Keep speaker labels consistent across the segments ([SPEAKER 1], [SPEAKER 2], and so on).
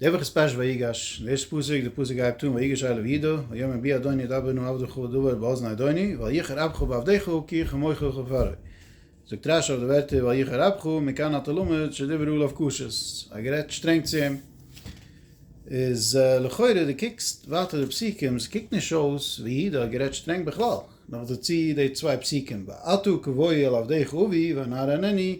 [SPEAKER 1] דער וואך איז פרשת ויגש, דער ערשטער פסוק, דער פסוק הייבט אן ויגש אליו וידו, ויאמר בי אדוני ידבר נא עבדך דבר באזני אדוני, ואל יחר אפך בעבדך כי איך עמך וכפרה. זאגט רשי אויף די ווערטער ואל יחר אפך, מכאן אתה לומד שדיבר אליו קשות, ער האט גערעדט שטרענג צו אים. איז לכאורה די קוקסט ווייטער די פסוקים, עס קוקט נישט אויס ווי ידו האט גערעדט שטרענג בכלל, נאכדערצו די צוויי פסוקים ואתו כבואי אל עבדך אבי ואנאר ענני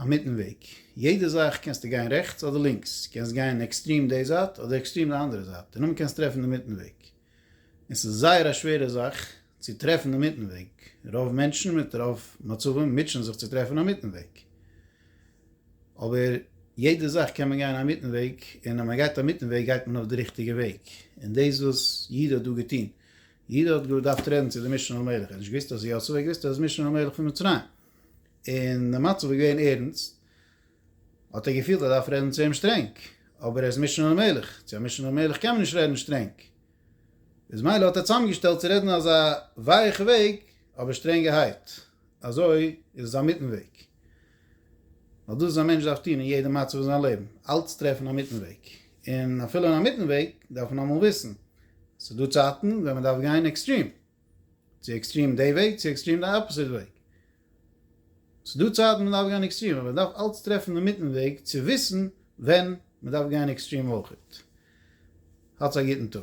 [SPEAKER 1] א מיטן וועג. יעדע זאך קענסטו גיין רעכטס אדער לינקס. קענסט גיין עקסטרים די זייט אדער עקסטרים די אנדערע זייט און נאמאל קענסט טרעפן די מיטן וועג. און ס'איז זייער א שווערע זאך צו טרעפן די מיטן וועג. רוב מענטשן מיט רוב מצבים מוטשען זיך צו טרעפן א מיטן וועג. אבער יעדע זאך קען מען גיין א מיטן וועג און אז מען גייט א מיטן וועג גייט מען אויף די ריכטיגע וועג. און דאס וואס יהודה האט דא געטון. יהודה האט געדארפט רעדן צו די משנה למלך. ער האט נישט געוואוסט אז יוסף, ער האט געוואוסט אז ער איז משנה למלך פון מצרים. און די מצב איז געווען ערנסט, האט ער געפילט ער דארף רעדן צו אים שטרענג, אבער ער איז משנה למלך, צו א משנה למלך קען מען נישט רעדן שטרענג, איז מילא האט ער צוזאמגעשטעלט צו רעדן אזא ווייעכע וועג, אבער שטרענגערהייט, אזוי איז עס א מיטן וועג, ווייל דאס איז א מענטש דארף טון אין יעדע מצב אין זיין לעבן, אלץ טרעפן א מיטן וועג, און אפילו אין א מיטן וועג דארף מען אמאל וויסן, ס'איז דא צייטן ווען מען דארף גיין עקסטרים. צו עקסטרים די וועג צו עקסטרים די אפאסיט וועג. ס'דא צייטן מען דארף גיין עקסטרים אבער מען דארף אלץ טרעפן די מיטן וועג צו וויסן ווען מען דארף גיין עקסטרים אויכעט. האטס א גוטן טאג.